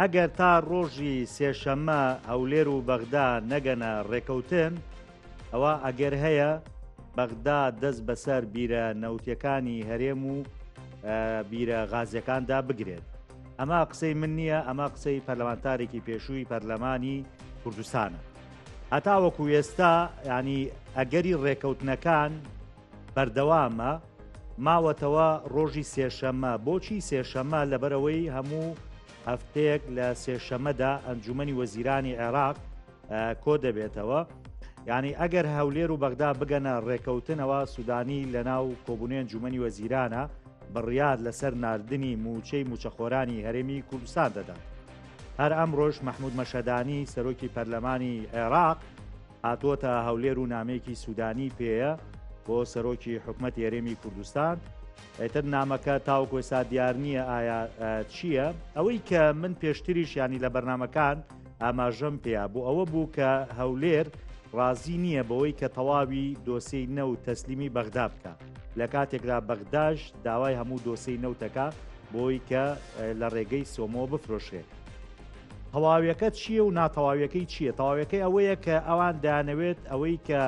ئەگەر تا ڕۆژی سێشەممە هەولێر و بەغدا نەگەنە ڕێکەوتن ئەوە ئەگەر هەیە بەغدا دەست بەسەر بیرە نەوتەکانی هەرێم و بیرە غازیەکاندا بگرێت ئەمە قسەی من نییە ئەمە قسەی پەرلەمانتارێکی پێشووی پەرلەمانی کوردستانە هەتاوەکو ئێستا ینی ئەگەری ڕێکەوتنەکان بەردەوامە ماوەتەوە ڕۆژی سێشەمە بۆچی سێشەمە لەبەرەوەی هەموو هەفتەیەک لە سێشەمەدا ئەنجومی وەزیرانی عێراق کۆ دەبێتەوە ینی ئەگەر هەولێر و بەغدا بگەنە ڕێکەوتنەوە سوودانی لە ناو کۆبوونی ئەنجومی وەزیرانە بڕیار لەسەر نردنی موچەی موچەخۆرانی هەرێمی کوردستان دەدات هەر ئەمڕۆژ مححمود مەشەدانی سەرۆکی پەرلەمانی عێراق هاتووەتە هەولێر و نامەیەکی سوودانی پێیە بۆ سەرۆکی حکومەت یارێمی کوردستان ئەتر نامەکە تاوکو ئێستا دیار نییە ئایا چییە ئەوەی کە من پێشتریش ینی لە بەرنمەکان ئاماژەم پێیا بۆ ئەوە بوو کە هەولێر ڕازی نییە بەوەی کە تەواوی دۆسی نە و تەسلیمی بەغدا بکە لە کاتێکدا بەغداش داوای هەموو دۆسی نەوتەکە بۆی کە لە ڕێگەی سۆمۆ بفرۆشێت تەواویەکە چییە و ناتەواویەکەی چییە تەواویەکەی ئەوەیە کە ئەوان دانەوێت ئەوەی کە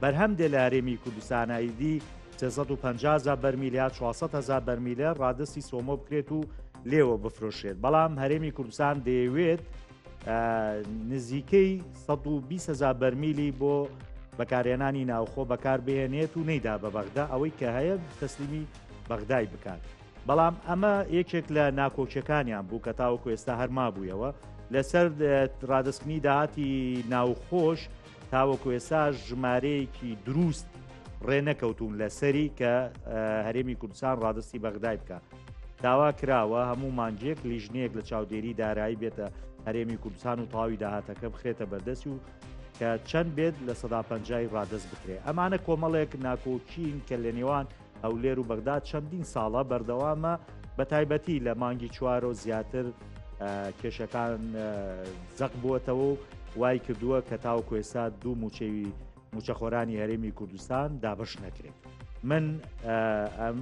بەرهەم دێ لە هەرێمی کوردستانایدی 350 بەرمیل یا 400هزار بەرمیلە ڕادستی سۆمۆ بکرێت و لێوە بفرۆشێت بەڵام هەرێمی کوردستان دەیەوێت نزیکەی 120هزار بەرمیلی بۆ بەکارێنانی ناوخۆ بەکاربهێنێت و نەیدا بە بەغدا ئەوەی کە هەیە تەسلیمی بەغدای بکات. بەڵام ئەمە یەکێک لە ناکۆکیەکانیان بوو کە تاوەکو ئێستا هەر مابوویەوە لەسەر ڕادستنی داهاتی ناوخۆش تاوەکو ئێستا ژمارەیەکی دروست ڕێنەکەوتون لەسەری کە هەرێمی کوردستان ڕادستی بەغدای بکە داوا کراوە هەموو مانجێک لیژنەیەک لە چاودێری دارایی بێتە هەرێمی کوردستان و تاوی داهاتەکە بخرێتە بەردەست و کە چەند بێت لە سەدا پەنجای ڕادست بکرێ ئەمانە کۆمەڵێک ناکۆکین کە لە نێوان هەولێر و بەغداد چەندین ساڵە بەردەوامە بە تایبەتی لە مانگی چوارۆ زیاتر کێشەکان زەق بووەتەوە و وای کردووە کە تاو کوێسا دوو موچەوی موچەخۆرانی هەرێمی کوردستان دابش نەکرێت. من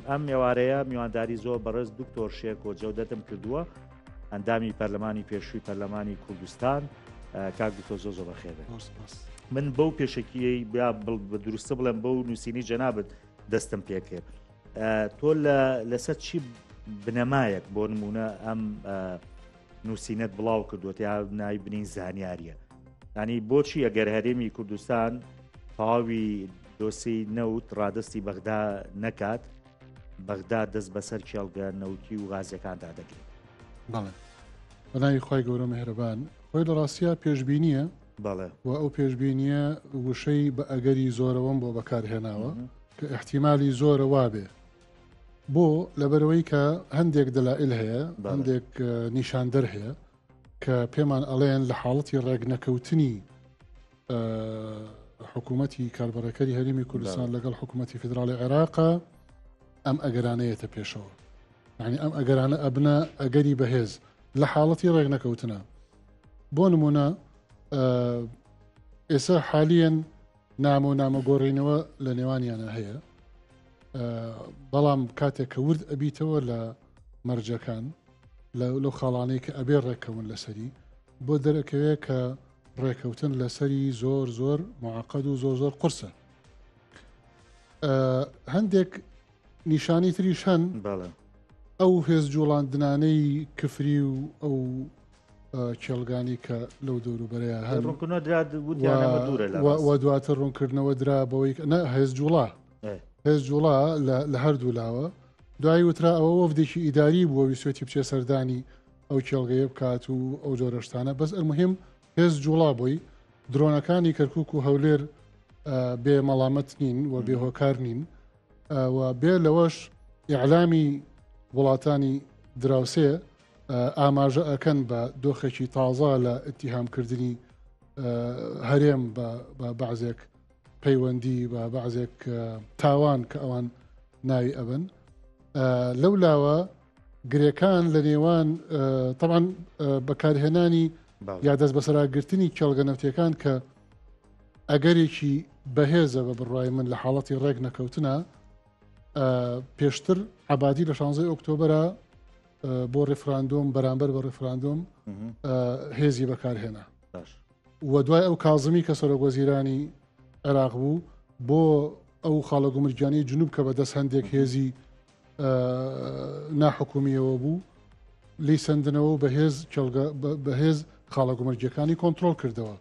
ئەم ئێوارەیە میوانداری زۆر بەڕێز دکتۆر شێک و جەودەتم کردووە ئەندامی پەرلەمانی پێشووی پەرلەمانی کوردستان کاک دکتۆر زۆ زۆ بەخێبێت من بەو پێشکیی بیا بە دروستە بڵێم بەو نووسینی جەنابەت دەستم پێ کرد تۆ لەسەر چی بنەمایەک بۆ نمونە ئەم نووسینەت بڵاو کردووە یا نای بنین زانیاریە ینی بۆچی ئەگەر هەرێمی کوردستان تەواوی دۆسی نەوت ڕادستی بەغدا نەکات بەغدا دەست بەسەر کێڵگە نەوتی و غازەکاندا دەگرێت بەڵێ بەناوی خی گەورە مهرەبان خۆی لە ڕاستە پێشببینیە بەڵێ. وە ئەو پێشبینییە وشەی بە ئەگەری زۆرەوەم بۆ بەکارهێناوە کە ئیحتیمالی زۆرە وابێ. بۆ؟ لەبەرئەوەی کە هەندێک دەلائیل هەیە، هەندێک نیشاندەر هەیە کە پێمان ئەڵێن لە حاڵەتی ڕێکنەکەوتنی حکوومەتی کاربەڕێکەری هەرێمی کوردستان لەگەڵ حکوومەتی فیدراڵی عێراقا ئەم ئەگەرانەیەتە پێشەوە. یعنی ئەم ئەگەرانە ئەبنە ئەگەری بەهێز لە حاڵەتی ڕێکنەکەوتنە. بۆ نمونە ئێستا حالیان نامە و نامە گۆڕینەوە لە نێوانیانە هەیە بەڵام کاتێک کە ورد ئەبیتەوە لە مەرجەکان لەو خاڵانەی کە ئەبێ ڕێکەون لەسەری بۆ دەرەکەوێ کە ڕێکەوتن لەسەری زۆر زۆر معقد و زۆر زۆر قرسە هەندێک نیشانەی تریش هەن بەڵێ ئەو هێز جوڵاندنانەی کفری و ئەو کێڵگانی کە لەو دەوروبەرەیە هەن ڕوونکردنەوە درا وتیان ئەمە دوورە لە و ڕاست. و دواتر ڕوونکردنەوە درا بەوەی کە- نە هێز جوڵا ئێ. هێز جوڵا لە- لە هەردوو لاوە دوایی وترا ئەوە وەفدێکی ئیداری بووە ویسوێتی بچێ سەردانی ئەو کێڵگەیە بکات و ئەو جۆرە شتانە بەس ئەلموهیم هێز جوڵا بووی درۆنەکانی کەرکک و هەولێر ئا، بێ مەڵامەت نین و بێ هۆکار نین و بێ لەوەش ئیعلامی وڵاتانی دراوسێ ئاماژە ئەکەن بە دۆخێکی تازە لە ئتیهامکردنی هەرێم بە بەعزێک پەیوەندی و بەعزێک تاوان کە ئەوان ناوی ئەبن لەو لاوە گرێکان لە نێوان تەوان بەکارهێنانی یا دەست بەسەراگرتنی کێڵگە نەوتەکان کە ئەگەرێکی بەهێزە بە بڕای من لە حاڵەتی ڕێک نەکەوتنە پێشتر عبادی لە شانزەی ئۆکتۆبرە بۆ ڕفراندۆم بەرامبەر بە ڕفراندۆم هێزی بەکارهێنا و دوای ئەو کازمی کە سەرۆک وەزیرانی عێراق بوو بۆ ئەو خاڵە گومرگیانی جنوب کە بە دەست هەندێک هێزی ناحکومییەوە بوو لی سندنەوە و بەهێز بەهێز خاڵە گومەرجەکانی کۆنتترۆل کردەوە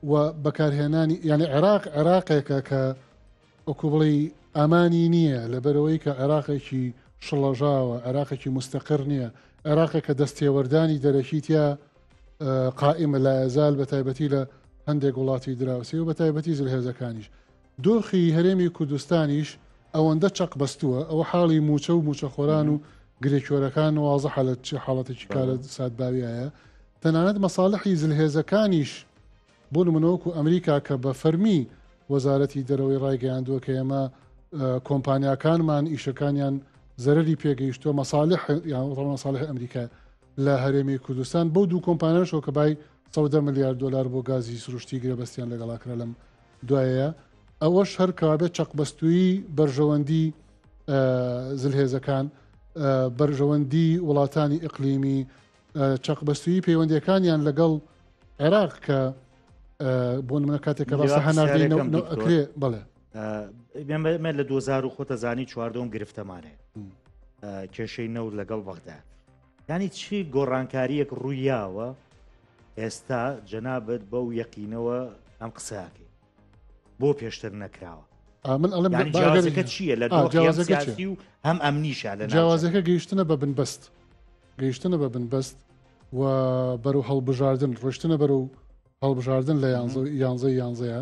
و بەکارهێنانی یعنی عێراق عێراقێکە کە ئۆکو بڵی ئامانی نییە لەبەرەوەی کە عێراقێکی شڵەژاوە عێراقێکی مستەقر نییە عێراقێک کە دەستێوەردانی دەرەکیتیا قائمە لایەزال بە تایبەتی لە هەندێک وڵاتی دراوسی و بە تایبەتی زلهێزەکانیش دۆخی هەرێمی کوردستانیش ئەوەندە چەقبەستووە، ئەوە حاڵی مووچە و مووچەخۆران و گرێکۆرەکان وازحە لە چ حاڵەتێکی کارەساتباویایە، تەنانەت مەساڵحی زلهێزەکانیش بۆ نموونە وەکو ئەمریکا کە بە فەرمی وەزارەتی دەرەوەی ڕایگەیاندووە کە ئێمە کۆمپانیاکانمان ئیشەکانیان زەرەری پێگەیشتووە مەساڵح یان ڕەوە مەساڵح ئەمریکا لە هەرێمی کوردستان بەو دوو کۆمپانیاشەوە کە بای سەدە ملیار دلار بۆ گازی سروشتی گرێبەستیان لەگەڵا کرا لەم دوایە ئەوەش هەر کەوابێت چەقبەستووی بەرژەوەندی زلهێزەکان بەرژەوەندی وڵاتانی ئەقلیمی چەقبەستوی پەیوەندەکانیان لەگەڵ عێراق کە بۆ منە کاتێک کە باس هەناردەکرێ بڵێ ئێمە لە 2000 خۆتەزانی چواردەم گرفتەمانێ کێشەی نەوت لەگەڵ بەغدا یانی چی گۆڕانکاریەک ڕوویاوە ئێستا جەنابەت بەو یەقینەوە ئەم قسەکەی بۆ پێشتر نەکراوە من ئەڵم جیازەکە چییە لە جیازەکەی و هەم ئەم نیشە لە جیازەکە گەیشتنە بە بنبەست گەیشتنە بە بنبەست و بەرەو هەڵبژاردن ڕشتنە بەرەو هەڵبژاردن لە یانزە یانزە یانزەیە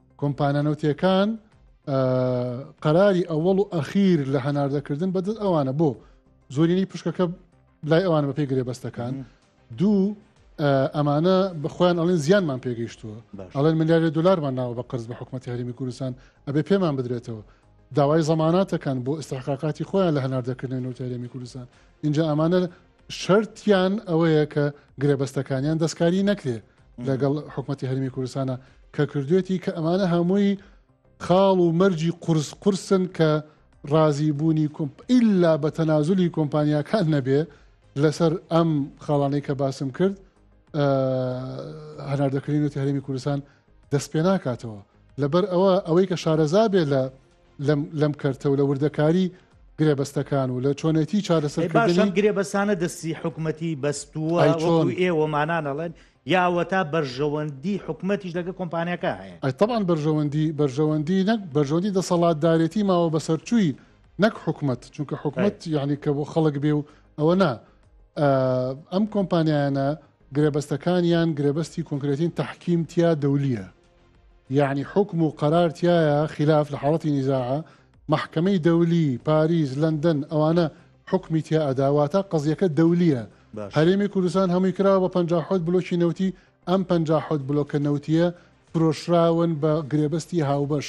کۆمپانە نەوتیەکان قەراری ئەوەڵ و ئەخیر لە هەناردەکردن بەدەست ئەوانە بۆ زۆرینی پشکەکە لای ئەوان بە پێی گرێبەستەکان دوو ئەمانە بەخۆیان ئەڵێن زیانمان پێگەیشتووە ئەڵێن ملیارە دلارمان ناوە بە قرز بە حکوومەتتی هەرمی کوردستان ئەبێ پێمان بدرێتەوە داوای زەماناتەکان بۆ ئستحقاقاتی خۆیان لە هەناردەکردن نوتەرێمی کوردستان اینجا ئەمانە شەرتیان ئەوەیە کە گرێبەستەکانیان دەستکاری نەکرێ لەگەڵ حکوومەتتی هەرمی کوردستانە کە کردوێتی کە ئەمانە هەمووی خاڵ و مەرجی قرس قرسن کە ڕازی بوونی کۆمپ ئللا بە تەنازلی کۆمپانیاکان نەبێ لەسەر ئەم خاڵانەی کە باسم کرد هەناردەکردنی وتی هەرمی کوردستان دەست پێ ناکاتەوە لەبەر ئەوە ئەوەی کە شارەزا بێ لە لەم کەرتە و لە وردەکاری گرێبەستەکان و لە چۆنێتی چارەسەرکردنی گرێبەسانە دەستی حکوومەتی بەستووە چۆن ئێوەمانانەڵێن یاوەتا بەرژەوەندی حکوومەتیش لەگە کۆمپانیەکە هەیە ئەتەبان بەرژەوەندی بەرژەوەندی نەک بەرژەوەندی دەسەڵاتدارێتی ماوە بەسەرچووی نەک حکوومەت چونکە حکوومەت یعنی کە بۆ خەڵک بێ و ئەوە نا ئەم کۆمپانیانە گرێبەستەکانیان گرێبەستی کۆنکرێتین تحکیم تیا دەولیە یەعنی حوکم و قەرار تیایە خیلاف لە حاڵەتی نیزاعە، مەحکەمەی دەولی، پاریس، لەندەن، ئەوانە حوکمی تیا ئەدا واتە قەزیەکە دەولیە، باش. هەرێمی کوردستان هەمووی کراوە بە پەنجا حەوت بلۆکی نەوتی، ئەم پەنجا حەوت بلۆکە نەوتیە فرۆشراون بە گرێبەستی هاوبەش،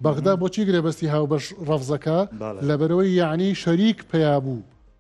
بەغدا بۆچی گرێبەستی هاوبەش ڕەفزەکا؟ بەڵێ. لەبەرئەوەی یەعنی شەریک پیا بوو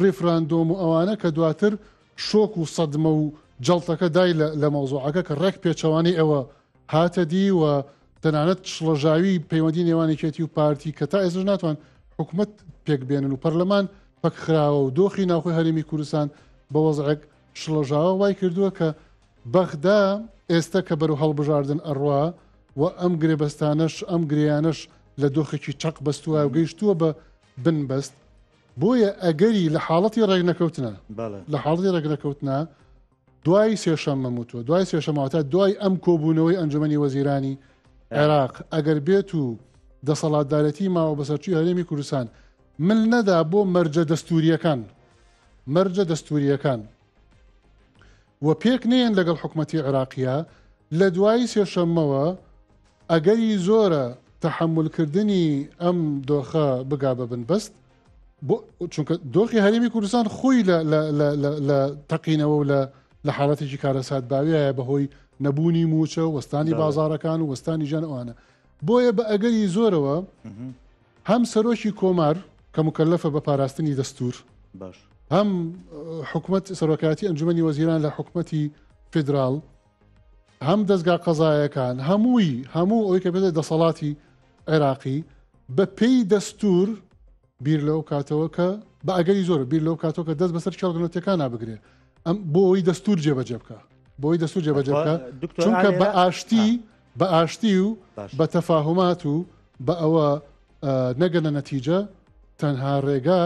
ڕیفراندۆم و ئەوانە کە دواتر شۆک و سەدمە و جەڵتەکە دای لە مەوزوعەکە کە ڕێک پێچەوانەی ئەوە هاتە دی و تەنانەت شڵەژاوی پەیوەندی نێوان یەکێتی و پارتی کە تا ئێستش ناتوان حکومت پێک بێنن و پەرلەمان پەکخراوە و دۆخی ناوخۆی هەرێمی کوردستان بە وەزعێک شڵەژاوە وای کردووە کە بەغدا ئێستا کە بەرو هەڵبژاردن ئەڕوا و ئەم گرێبەستانەش ئەم گرێیانەش لە دۆخێکی چەق بەستووە و گەیشتووە بە بنبەست بۆیە ئەگەری لە حاڵەتی ڕێکنەکەوتنە لە حاڵی ڕێکنەکەوتنە دوای سێشەم مەموتوە دوای سێشەماوەتا دوای ئەم کۆبوونەوەی ئەنجومی وەزیرانی عێراق ئەگەر بێت و دەسەڵاتدارەتی ماوە بەسەرچوی هەرێمی کوردستان مل نەدا بۆ مەرجە دەستوریەکان مەرجە دەستوریەکان و پێک نەیەن لەگەڵ حکومەتی عێراقیە لە دوای سێشەممەوە ئەگەری زۆرە تەحەمول کردنی ئەم دۆخە بگا بە بنبەست چونکە دۆخی هەرێمی کوردستان خۆی لە تەقینەوە و لە لە حاڵەتێکی کارەسات باویایە بەهۆی نەبوونی موچە وەستانی بازارەکان و وەستانی ژان ئەوانە بۆیە بە ئەگەری زۆرەوە هەم سەرۆکی کۆمار کە مکەلەفە بە پاراستنی دەستور هەم حکومت سەرۆکاتی ئەنجومی وەزیران لە حکومەتی فیدرال هەم دەستگا قەزایەکان هەمووی هەموو ئەوی کە بێتە دەسەڵاتی عێراقی بە پێی دەستور بیر لەو کاتەوە کە بە ئەگەری زۆر بیر لەو کاتەوە کە دەست بەسەر کێڵگەنەتەکان نابگرێ ئەم بۆ ئەوی دەستور جێبەجێ بکە بۆی دەستور جێبەجێ بکە چونکە بە ئاشتی بە ئاشتی و بە تەفاهمات و بە ئەوە نەگەنە نەتیجە تەنها ڕێگا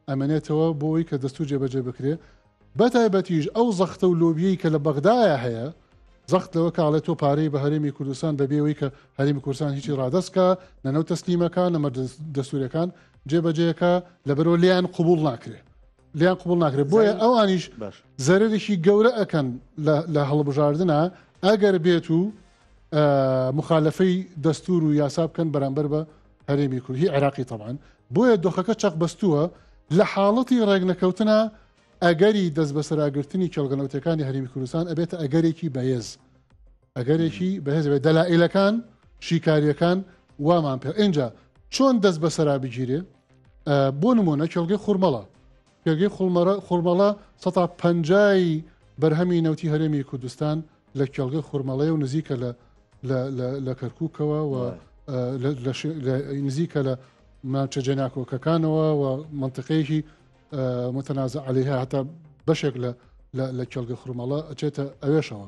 ئەمێنێتەوە بۆی کە دەستور جێبەجێ بکرێ بە تایبەتیش ئەو زەختە و لۆبیەی کە لە بەغدایە هەیە زەخت لەوە کاڵێ تۆ پارەی بە هەرێمی کوردستان بەبێەوەی کە هەرمی کوردستان هیچی ڕادستکە نەنەو تەسلیمەکان نەمە دەستورەکان جێبەجێەکە لەبەرەوە لیان قوبول ناکرێ لیان قبوڵ ناکرێت بۆیە ئەوانیش زەرێکی گەورە ئەەکەن لە هەڵبژاردنە ئەگەر بێت و مخالفەی دەستور و یاسا بکەن بەرامبەر بە هەرێمی کورد هی عێراقی تەمان بۆیە دۆخەکە چەق بەستووە لە حاڵەتی ڕێگنەکەوتنە ئەگەری دەست بەسەراگرتنی کێڵگەنەوتەکانی هەرمی کوردستان ئەبێتە ئەگەرێکی بەهێز ئەگەرێکی بەهێز بێت دەلائیلەکان شیکاریەکان وامان پێ ئینجا چۆن دەست بە سەرا بگیرێ بۆ نمونە کێڵگەی خورمەڵە کێڵگەی خڵمەرە خورمەڵە 150 بەرهەمی نەوتی هەرێمی کوردستان لە کێڵگە خورمەڵەیە و نزیکە لە لە کەرکووکەوە و نزیکە لە ماچە جێناکۆکەکانەوە و منطقەیەکی متەنازە عليهەیە هەتا بەشێک لە لە کێڵگە خورمەڵە ئەچێتە ئەوێشەوە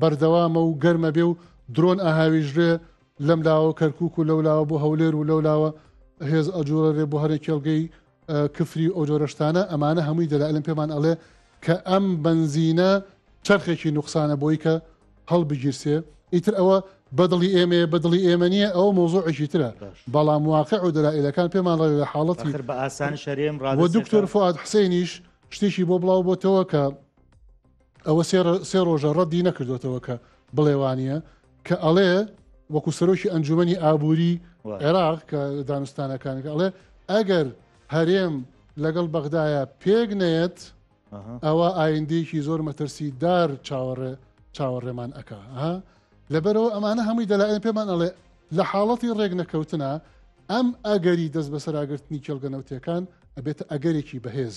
بەردەوامە و گەرمە بێ و درۆن ئاهاویژرێ لەم لاوە کەرکک و لەو لاوە بۆ هەولێر و لەو لاوە هێز ئەجوورە رێ بۆ هەرێک کێڵگەی کفری و ئەو جۆرەشتانە ئەمانە هەمووی دەلالم پێمان ئەڵێ کە ئەم بنزینە چرخێکی نوقسانە بۆی کە هەڵبگیرسێ ئیتر ئەوە بەدڵی ئێمەیە بەدڵی ئێمە نیە ئەو مۆزۆعێکی ترە بەڵام واقع و دەلائلەکان پێمان ڕێ لە حاڵەتی بە ئاسان شەرێم ڕ دکتۆر فات حسێنیش شتێکی بۆ بڵاو بۆتەوە کە ئەوە سێ ڕۆژە ڕەدی نەکردوێتەوە کە بڵێ وانە کە ئەڵێ وەکو سەرۆکی ئەنجومی ئابووری عێراق کە دانوستانەکانەکە ئەڵێ ئەگەر هەرێم لەگەڵ بەغدایە پێک نەیەت ئەوە ئایندێکی زۆر مەترسی دار چاوەڕێ چاوەڕێمان ئەک لەبەرەوە ئەمانە هەمووی دەلایەن پێمان ئەڵێ لە حاڵەتی ڕێک نەکەوتنە ئەم ئەگەری دەست بەسەراگرتنی کێڵگەنەوتەکان ئەبێتە ئەگەرێکی بەهێز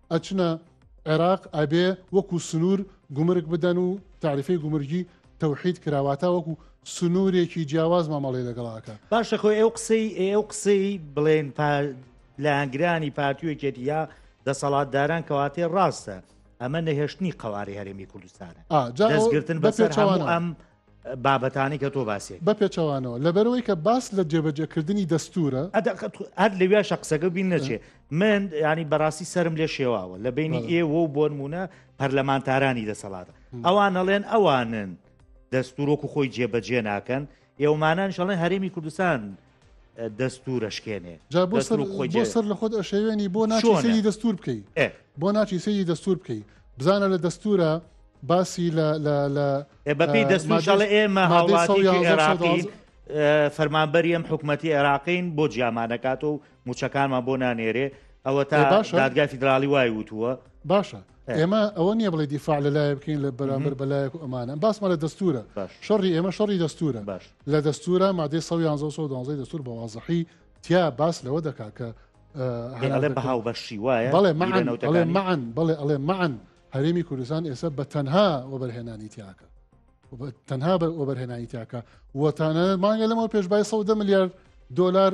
ئەچنە عێراق ئەبێ وەکو سنوور گومرگ بدەن و تاریفەی گومرگی تەوحید کراواتە وەکو سنوورێکی جیاواز مامەڵی لەگەڵاکە باشە خۆی ئەو قسەی ئەو قسەی بڵێن لایەنگرانی پارتیوەکێتی یا دەسەڵاتداران کەواتێ ڕاستە ئەمە نەهێشتنی قەوارەی هەرێمی کوردستانە دەستگرتن بەسەر ئەم بابەتانەی کە تۆ باسیت. بە پێچەوانەوە لەبەرئەوەی کە باس لە جێبەجێکردنی دەستوورە. هەر لەویاشە قسەکە بیر نەچێ من ینی بەڕاستی سرم لێ شێواوە لە بینی ئێوە و بۆنمونە پەرلەمانتارانی دەسەڵاتە ئەوان نەڵێن ئەوانن دەستورۆک و خۆی جێبەجێ ناکەن ئێومانان شڵێن هەرێمی کوردستان دەستور ئەشکێنێ جا بۆ سەر بۆ سەر لە خۆت ئەشێوێنی بۆ ناچی سەیری دەستور بکەی بۆ ناچی سەیری دەستور بکەی بزانە لە دەستورە باسی لە بەپی دەستماشڵە ئێمە هاوڵاتیکی عێراقی فەرمانبەری ئەم حکوومەتتی عێراقین بۆ جیامانەکات و موچەکانمان بۆ نانێرێ ئەوە تا باشە دادگای فیدراالی وای وتووە باشە ئێمە ئەوە نییە بڵێ دیفاع لە لایە بکەین لە بەرامبەر بەلایەک ئەمانە باسمە لە دەستورە شەڕی ئێمە شەڕی دەستورە لە دەستورە مادەی سەد و یانزە و سەد و دوازدە ی دەستور بە وازحی تیا باس لەوە دەکا کە ئەڵێ بە هاوبەشی وایە بەڵێ معن بەڵێ معن بەڵێ ئەڵێ معن هەرێمی کوردستان ئێستا بە تەنها وەبەرهێنانی تیاکە تەنها بە وەبەرهێنانی تیاکە وەتانە مانگە لەمەوە پێشبای 100 ملیارد دلار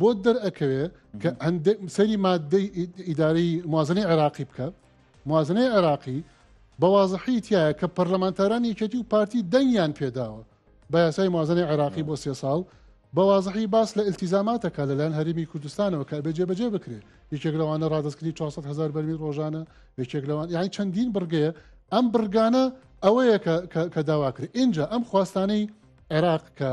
بۆت دەرئەکەوێ کە سەری مادەی ئیدارەی موازنەی عێراقی بکە موازنەی عێراقی بەوازحی تایە کە پەرلەمانتاران یەکێتی و پارتی دەنگیان پێداوە بە یاسای موازنەی عێراقی بۆ سێ ساڵ بەوازحی باس لە التیزاماتەکە لەلایەن هەرمی کوردستانەوە کە بێ جێبەجێ بکرێ یەکێک لەوانە ڕادستکردنی 400 هزار بەرمی ڕۆژانە یەکێک لەوان یانی چەندین بڕگەیە ئەم بڕگانە ئەوەیە کە داواکرێت اینجا ئەم خواستانەی عێراق کە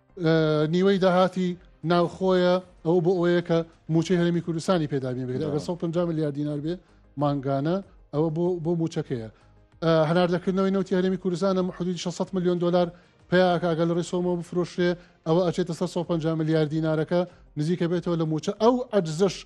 نیوەی داهاتی ناوخۆیە ئەو بۆ ئەوەیە کە موچەی هەرمی کوردستانی پێدابێ بێت ئەگە 150 میلیارد دینار بێ مانگانە ئەوە بۆ بۆ موچەکەیە هەناردەکردنەوەی نوتی هەرمی کوردستانە حدود 600 میلیۆن دلار پیاکگە لە ڕێسۆمە بفرۆشرێ ئەوە ئەچێتە سەر 150 میلیارد دینارەکە نزیکە بێتەوە لە موچە ئەو ئەجزش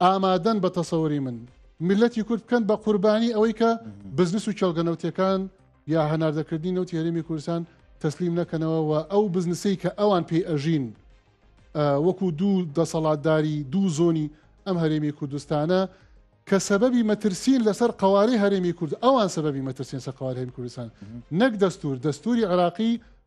ئامادەن بە تەسەوری من میلەتی کورد بکەن بە قوربانی ئەوەی کە بزنس و کێڵگە نەوتەکان یا هەناردەکردنی نەوتی هەرێمی کوردستان تەسلیم نەکەنەوە و ئەو بزنسی کە ئەوان پێی ئەژین وەکو دوو دەسەڵاتداری دوو زۆنی ئەم هەرێمی کوردستانە کە سەبەبی مەترسین لەسەر قوارەی هەرێمی کورد ئەوان سەبەبی مەترسین سە قوارهێن کوردستان نەک دەستور دەستوری عراقی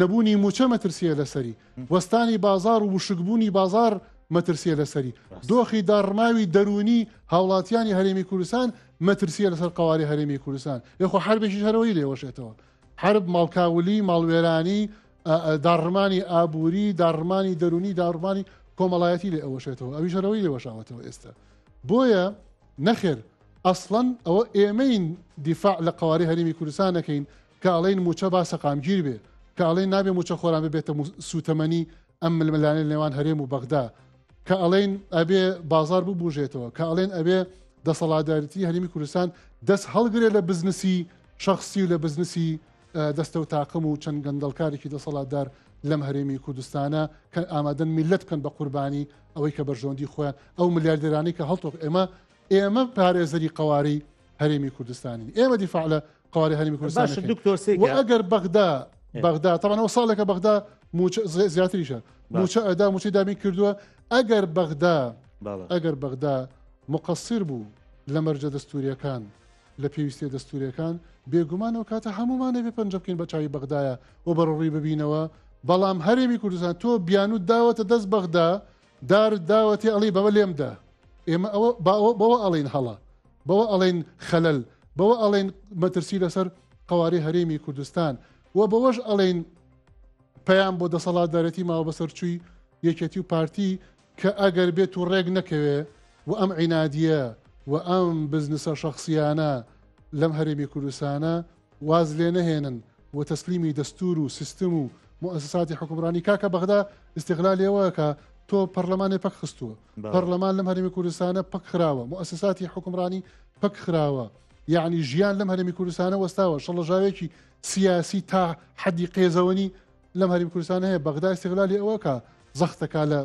نەبوونی مووچە مەترسییە لەسەری، وەستانی بازاڕ و وشکبوونی بازاڕ مەترسییە لەسەری، دۆخی داڕماوی دەروونی هاوڵاتیانی هەرێمی کوردستان مەترسییە لەسەر قەوارەی هەرێمی کوردستان، ئێ خۆ حەربێکیش هەرەوەی لێوەشێتەوە، حەرب ماڵکاولی، ماڵوێرانی، داڕمانی ئابووری، داڕمانی دەروونی، داڕمانی کۆمەڵایەتی لێ ئەوەشێتەوە، ئەویش هەرەوەی لێوەشاوەتەوە ئێستا. بۆیە نەخێر ئەسڵەن ئەوە ئێمەین دیفاع لە قەوارەی هەرێمی کوردستان نەکەین، کە ئەڵێن مووچە با سەقامگیر بێ، کە ئەڵێن نابێ مووچەخۆران ببێتە سووتەمەنی ئەم ململانێ نێوان هەرێم و بەغدا، کە ئەڵێن ئەبێ بازار ببوژێتەوە، کە ئەڵێن ئەبێ دەسەڵاتدارێتیی هەرێمی کوردستان دەست هەڵگرێ لە بزنسی شەخسی و لە بزنسی دەستە و تاقم و چەند گەندەڵکارێکی دەسەڵاتدار لەم هەرێمی کوردستانە کە ئامادەن میللەت بکەن بە قوربانی ئەوەی کە بەرژەوەندی خۆیان ئەو ملیاردێرانی کە هەڵتۆق ئێمە ئێمە پارێزەری قەوارەی هەرێمی کوردستانین ئێمە دیفاع لە قواری هەرمی کوردستان و ئەگەر بەغدا بەغدا تەمانەوە ساڵێکە بەغدا زیاتریشە موچە ئەدا موچی دابین کردووە ئەگەر بەغدا ئەگەر بەغدا مقصیر بوو لە مەرجە دەستوریەکان لە پێویستە دەستوریەکان بێگومانەوە کاتە هەمومانە بێ پەنج بکەین بە چاوی بەغدایە و بەڕڕووی ببینەوە بەڵام هەرێمی کوردستان تۆ بیانوت داوەتە دەست بەغدا دارت داوەتێ ئەڵی بەوە لێم دە. ئێمە ئەوە با ئەوە بەوە ئەڵین هەڵە بەوە ئەڵین خەلەل بەوە ئەڵین مەترسی لەسەر قواری هەرێمی کوردستان و بەوەش ئەڵین پەیام بۆ دەسەڵاتدارەتی ماوە بەسەرچووی یەکێتی و پارتی کە ئەگەر بێت و ڕێک نەکەوێ و ئەم عینادیە و ئەم بزنسە شخصیانە لەم هەرێمی کوردستانە واز لێ نەهێنن و تەسلیمی دەستور و سیستم و موئەسەساتی حوکمڕانی کاکە بەغدا ئیستیغلالی ئەوە ئەکا تۆ پەڕلەمانێ پەک خستووە بەڵێ. پەڕلەمان لەم هەرێمی کوردستانە پەک خراوە موئەسەساتی حوکمڕانی پەک خراوە یەعنی ژیان لەم هەرێمی کوردستانە وەستاوە شڵەژاوێکی سیاسی تا حەدی قێزەوەنی لەم هەریم کوردستانە هەیە بەغدا ئیستیغلالی ئەوە کە زەختەکە لە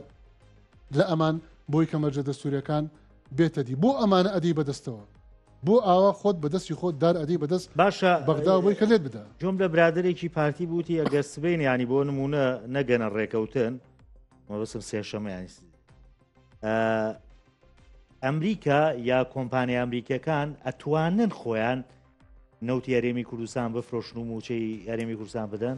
لە ئەمان بۆی کە مەرجە دەستوریەکان بێتە دی بۆ ئەمانە ئەدی بەدەستەوە بۆ ئاوا خۆت بە دەستی خۆت دار ئەدەی بەدەست باشە بەغدا بۆی کە لێت بدا جۆم لە برادێکی پارتی بوتی ئەگەر سبین ینی بۆ نمونە نەگەنە ڕێکەوتن مەبسم سێشەمە ینی ئەمریکا یا کۆمپانیا ئەمریکەکان ئەتوانن خۆیان نەوتی یاریێمی کوردستان بفرۆشن و موچەی یاریێمی کوردستان بدەن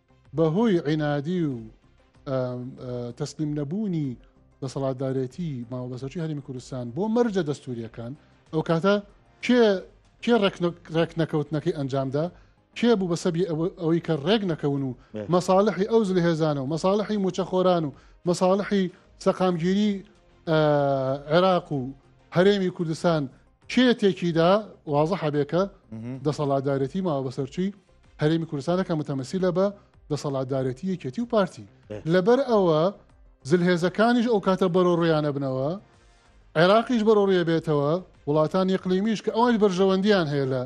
بە هۆی عینادی و تەسلیم نەبوونی دەسەڵاتدارێتی ماوەبەسەرچی هەرمی کوردستان بۆ مەرجە دەستوریەکان ئەو کاتە کێ کێ ڕێک نەکەوتنەکەی ئەنجامدا کێ بوو بە سەبی ئەوەی کە ڕێک نەکەون و مەساالحی ئەو زل هێزانە و مەساالحی موچەخۆران و مەساالحی سەقامگیری عێراق و هەرێمی کوردستان کێ تێکیدا وازە حەبێکە دەسەڵاتدارێتی ماوە بەسەرچی هەرێمی کوردستانەکە متەمەسیلە بە دەسەڵاتدارێتی یەکێتی و پارتی لەبەر ئەوە زلهێزەکانیش ئەو کاتە بەرۆ ڕویانە بنەوە عێراقیش بەرۆ ڕێ بێتەوە وڵاتان یقلیمیش کە ئەوانش بەرژەوەندیان هەیە لە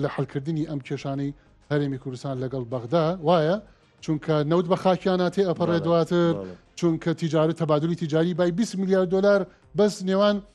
لە حلکردنی ئەم کێشانەی هەرێمی کوردستان لەگەڵ بەغدا وایە چونکە نەوت بە خاکیاناتێ ئەپەڕێ دواتر چونکە تیجارە تەبادلی تیجاری بای 20 میلیارد دلار بەس نێوان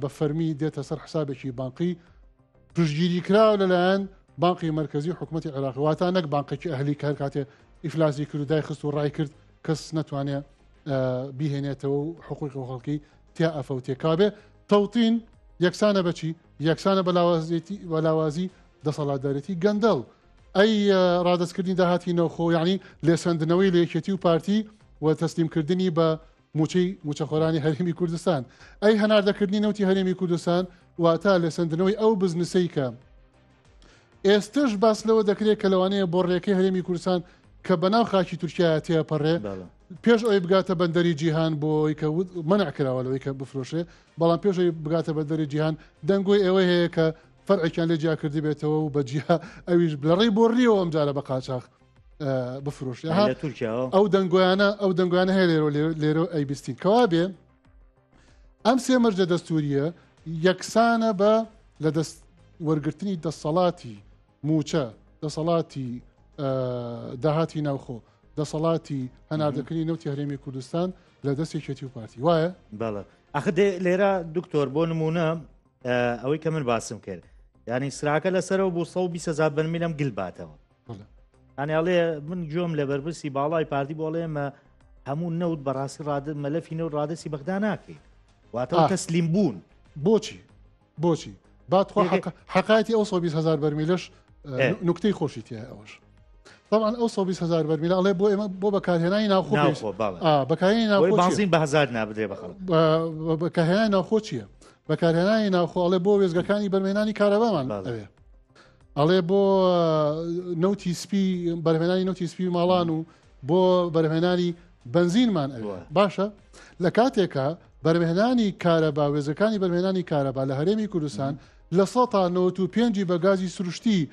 بە فەرمی دێتە سەر حسابێکی بانقی پشتگیری کراوە لەلایەن بانقی مرکزی حکوومەتتی عێراق واتا نەک بانقێکی ئەهلی کار کاتێ ئیفلاسی کرد و دای خست و ڕای کرد کەس ناتوانێت بیهێنێتەوە و حقوقی خەڵکی تیا ئەفەوتێکابێ تەوتین یەکسانە بەچی یەکسانە بەلاوازێتی وەلاوازی دەسەڵاتدارێتی گەندەڵ ئەی ڕادستکردنی داهاتی نەوخۆ یعنی لێسەندنەوەی لەکێتی و پارتی و تەسلیمکردنی بە موچەی موچەخۆرانی هەرێمی کوردستان ئەی هەناردەکردنی نەوتی هەرێمی کوردستان واتا لە سندنەوەی ئەو بزنسەی کە ئێستش باس لەوە دەکرێت کە لەوانەیە بۆ ڕێەکەی هەرێمی کوردستان کە بەناو خاکی تورکیا تێپەڕێ پێش ئەوی بگاتە بەندەری جیهان بۆی کە وت منع کراوە لەوەی کە بفرۆشێ بەڵام پێشەوەی بگاتە بەندەری جیهان دەنگۆی ئێوە هەیە کە فەرعێکیان لە جیاکردی بێتەوە و بە جیها ئەویش بلەڕی بۆ ڕیەوە ئەم جارە بە قاچاخ بفرۆش ئەو دەنگۆیانە ئەو دەنگوانە هەیە لێرۆ لێرۆ ئەی بیستین کەوا بێ ئەم سێ مەرجە دەستوریە یەکسانە بە لە دەست وەرگرتنی دەسەڵاتی موچە دەسەڵاتی داهاتی ناوخۆ دەسەڵاتی هەناردەکردنی نەوتی هەرێمی کوردستان لە دەست یەکێتی و پارتی وایە بەڵە ئەخ لێرە دکتۆر بۆ نمونە ئەوەی کە من باسم کرد ینی سراکە لەسەرەوە بۆ 120 بەرمیلم گلباتەوە ئەنیاڵێ من گوێم لە بەرپرسی باڵای پارتی بۆ ئەڵێمە هەموو نەوت بەڕاستی ڕاد مەلەفی نەوت ڕادستی بەغدا ناکەین واتە تەسلیم بوون بۆچی بۆچی باتخوا حقاتی ئەو 120هزار بەرمیلش نکتەی خۆشی تیا ئەوش طبعا ئەو 120هزار بەرمیل ئەڵێ بۆ ئێمە بۆ بەکارهێنانی ناوخۆ بەکارهێنانی ناوخۆ بەهزار نابدرێ بەخەڵ بەکارهێنانی ناوخۆ چییە بەکارهێنانی ناوخۆڵێ بۆ وێزگەکانی بەرمێنانی کارەبامان ئەوێ ئەڵێ بۆ نەوتی سپی بەرهێنانی نەوتی سپی ماڵان و بۆ بەرهێنانی بنزینمان ئەوە باشە لە کاتێکە بەرهێنانی کارەبا وێزەکانی بەرهێنانی کارەبا لە هەرێمی کوردستان لە سە تا 95 بە گازی سروشتی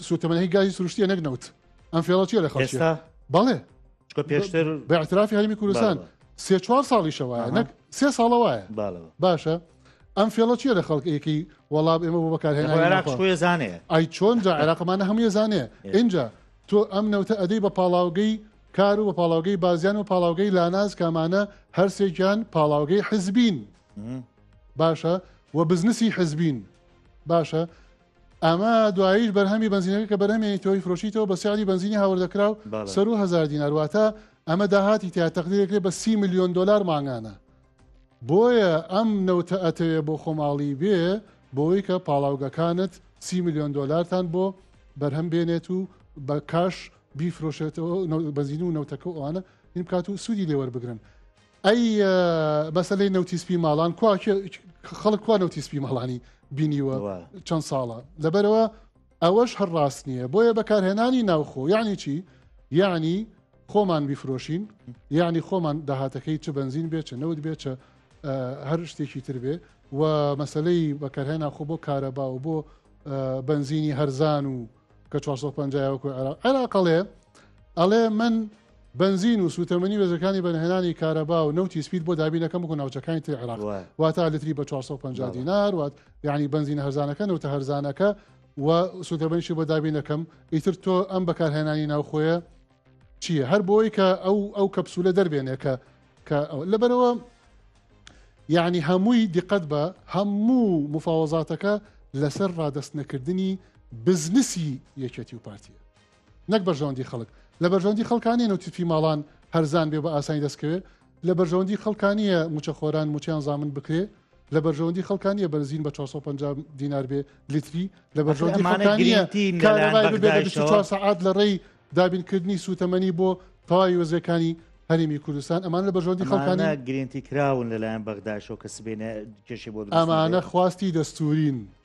سوتەمەنەی گازی سروشتیە نەک نەوت ئەم فێڵەچیە لە خەڵستا بەڵێ پێشتر بە اعترافی هەرمی کوردستان سێ چوار ساڵیشەوە نەک سێ ساڵە وایە باشە ئەم فێڵە چیە لە خەڵک ئەیکەی وەڵام ئێمە بۆ بەکارهێنانێ ئای چۆن جا عێراقمانە هەموو زانێ اینجا تۆ ئەم نەوتە ئەدەی بە پاڵاوگەی کار و بە پاڵاوگەی بازیان و پاڵاوگەی لاناز کامانە هەرسێکیان پاڵاوگەی حزبین باشە و بزنسی حزبین باشە ئەمە دواییش بەرهەمی بنزینەکە کە بەرهەمێنی تۆی فرۆشیتەوە بە سیادی بنزینی هاوردەکراو سەر و هزار دینارواتە ئەمە داهاتی تیا تەقدیرێکێ بە سی میلیۆن دلار ماگانە بۆیە ئەم نەوتە ئەتەوێ بۆ خۆماڵی بێ بۆی کە پاڵاوگەکانت سی ملیۆن دۆلارتان بۆ بەرهەم بێنێت و بە کاش بیفرۆشێتەوە بەزین و نەوتەکە و ئەوانە این بکات و سوودی لێوەربگرن ئەی مەسلەی نەوتی سپی ماڵان کوا خەڵک کوا نەوتی سپی ماڵانی بینیوە چەند ساڵە لەبەرەوە ئەوەش هەر ڕاست نییە بۆیە بەکارهێنانی ناوخۆ یعنی چی یعنی خۆمان بیفرۆشین یعنی خۆمان داهاتەکەی چ بنزین بێ چە نەوت بێ چە هەر شتێکی تر بێ و مەسلەی بەکارهێنا خۆ بۆ کارەبا و بۆ بنزینی هەرزان و کە 450 عراقەڵێ ئەڵێ من بەنزین و سووتەمەنی وێژەکانی بەرهەنانی کارەبا و نەوتی سپیت بۆ دابین دەکەم وەکو ناوچەکانی تری عێراق وایە. واتە لتری بە 450 بەڵێ. دینار وات یعنی بەنزینە هەرزانەکە نەوتە هەرزانەکە و سووتەمەنیشی بۆ دابین دەکەم ئیتر تۆ ئەم بەکارهێنانی ناوخۆیە چییە هەر بۆی کە ئەو ئەو کەپسولە دەربێنێ کە کە ئەو- لەبەرەوە یعنی هەمووی دیقەت بە هەموو مفاوەزاتەکە لەسەر ڕادەست نەکردنی بزنسی یەکێتی و پارتیە نەک بەرژەوەندی خەڵک لە بەرژەوەندی خەڵکانیە نوتیفی ماڵان هەرزان بێ بە ئاسانی دەستکەوێت لە بەرژەوەندی خەڵکانیە موچەخۆران موچیان زامن بکرێ لە بەرژەوەندی خەڵکانیە بەرزین بە 450 دینار بێ لیتری لە بەرژەوەندی خەڵکانیە کارەبای ببێ لە 24 سعات لە ڕێی دابینکردنی سووتەمەنی بۆ تەواوی وەزیەکانی هەرێمی کوردستان ئەمان لە بەژۆندی خەڵکانە گرنتی کراون لەلایەن بەغداشەوە کە سبێنە کێشی بۆ ئەمانە خواستی دەستورین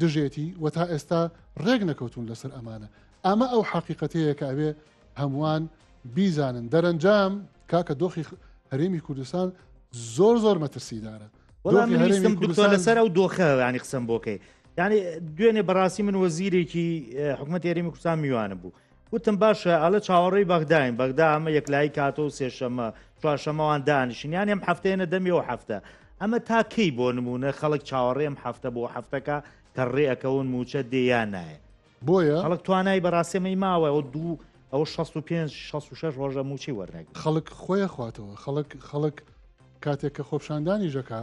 دژێتی و تا ئێستا ڕێک نەکەوتون لەسەر ئەمانە ئەمە ئەو حەقیقەتەیە کە ئەوێ هەمووان بیزانن دەرەنجام کاکە دۆخی هەرێمی کوردستان زۆر زۆر مەترسیدارە دکتۆر لەسەر ئەو دۆخە ینی قسم بۆکەی ینی دوێنێ بەڕاستی من وەزیرێکی حکوومەت ێرەمی کوردستان میوانە بوو وتم باشە ئەڵە چاوەڕێی بەغداین بەغدا ئەمە یەکلایی کاتۆ و سێشەمە چوارشەمەوان دانیشن یان ئەم هەفتەیەە دەمی و هەفتە ئەمە تا کەی بۆ نمونە خەڵک چاوەڕێم هەفتە بۆ هەفتەکە کە ڕێەکەون موچە دێیا نایە بۆیە خەڵک توانای بەڕاستێمەی ماوە ئەو دوو ئەو 65 66 ڕۆژە موچی وەرنەگ خەڵک خۆیە خواتەوە خەڵک خەڵک کاتێک کە خۆپشاندانی ژەکە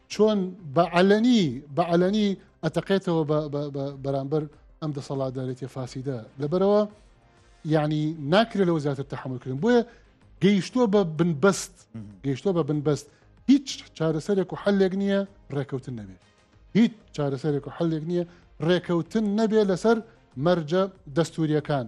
چۆن بە عەلەنی بە عەلەنی ئەتەقێتەوە بەرامبەر ئەم دەسەڵاتدارێتە فاسیدە لەبەرەوە یعنی ناکرێت لەوە زیاتر تحملکردن بۆیە گەیشتووە بە بنبەست گەیشتووە بە بنبەست هیچ چارەسەرێک و حلێک نییە ڕێکەوتن نەبێت هیچ چارەسەرێک و حلێک نییە ڕێکەوتن نەبێ لەسەر مەرجە دەستوریەکان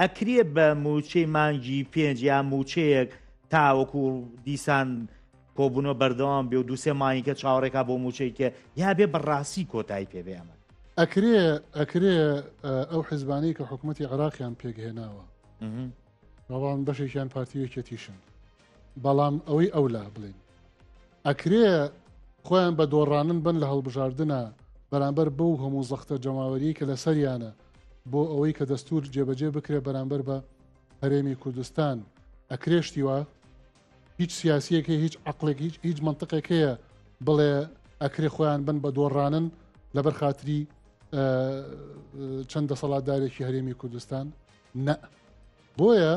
ئەکرێ بە مووچەی مانگی پێنج یا مووچەیەک تاوەکو دیسان کۆبوونەوە بەردەوام بێ و دووسێ مانیکە چاوەڕێکا بۆ مووچەیکە یا بێ بەڕاستی کۆتایی پێبێ ئەمە ئەکرێ ئەکرێ ئەو حزبانەی کە حکوومەتتی عراقیان پێکهێناوە بەڵام بەشێکیان پارتیوێکێتیشن بەڵام ئەوەی ئەو لا بڵین ئەکرێ خۆیان بە دۆڕانن بن لە هەڵبژاردنە بەرامبەر بەو هەموو زەختە جەماوەری کە لە سەریانە بۆ ئەوەی کە دەستور جێبەجێ بکرێ بەرامبەر بە هەرێمی کوردستان ئەکرێشتیوە هیچ سیاسیەکە هیچ عقلێک هیچ هیچ منطقێک هەیە بڵێ ئەکرێ خۆیان بن بە دۆڕانن لەبەر خااتری چەند دەسەڵاتدارێکی هەرێمی کوردستان نە بۆیە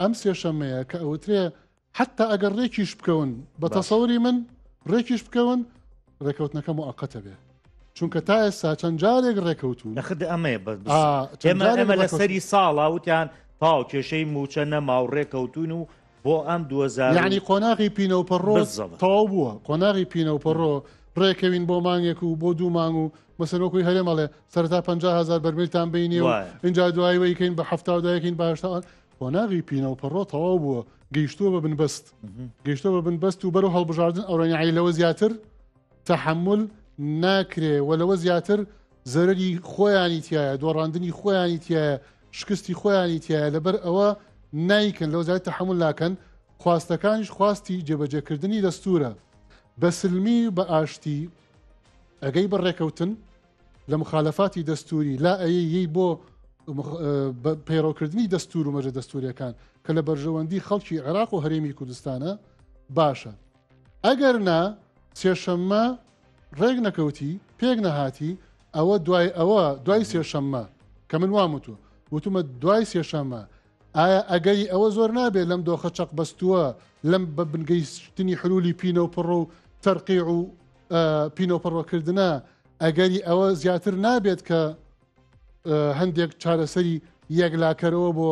ئەم سێشەمەیە کە ئەوترێ حەتتا ئەگەر ڕێکیش بکەون بە تەسەوری من ڕێکیش بکەون ڕێکەوتنەکە موعەقەتە بێ چونکە تا ئێستا چەند جارێک ڕێکەوتون نەخت ئەمەیە بە ئێمە ئەمە لە سەری ساڵا وتیان تاو کێشەی موچە نەما و ڕێکەوتون و بۆ ئەم دوزارانی قۆناغی پینەوپەڕۆ تەواو بووە قۆناغی پینەوپەڕۆ ڕێکەوین بۆ مانگێک و بۆ دوو مانگ و مەسەرۆکوی هەرێمەڵێ سەرتا 500هزار بەرمیلتان بینی و اینجا دواییکەین بە هەفتاودایکەین باشتەوان قۆناغی پینە و پەڕۆ تەواو بووە گەیشتووە بە بنبەست گەیشتە بە بنبەست و بەرەو هەڵبژاردن ئەوڕێنعی لەوە زیاتر تەحمل ناکرێ و لەوە زیاتر زەرری خۆیانی تایە دۆڕاندنی خۆیانی تایە شکستی خۆیانی تایە لەبەر ئەوە نیکن لەو زیات تەحمل ناکەن خواستەکانیش خواستی جێبەجێکردنی دەستورە بەسلمی بە ئاشتی ئەگەی بە ڕێکەوتن لە مخالەفاتی دەستوری لا ئەیەی بۆ پەیڕەوکردنی دەستور و مەرە دەستوریەکان کە لە بەرژەوەندی خەڵکی عێراق و هەرێمی کوردستانە باشە ئەگەر نا سێشەممە ڕێک نەکەوتی پێک نەهاتی ئەوە دوای ئەوە دوای سێشەممە کە من وام وتوە وتومە دوای سێشەممە ئایا ئەگەری ئەوە زۆر نابێت لەم دۆخە چەق بەستووە لەم بە بنگەیشتنی حلولی پینە و پڕ و تەرقی و پینۆپەڕۆکردە ئەگەری ئەوە زیاتر نابێت کە هەندێک چارەسەری یەکلاکەرەوە بۆ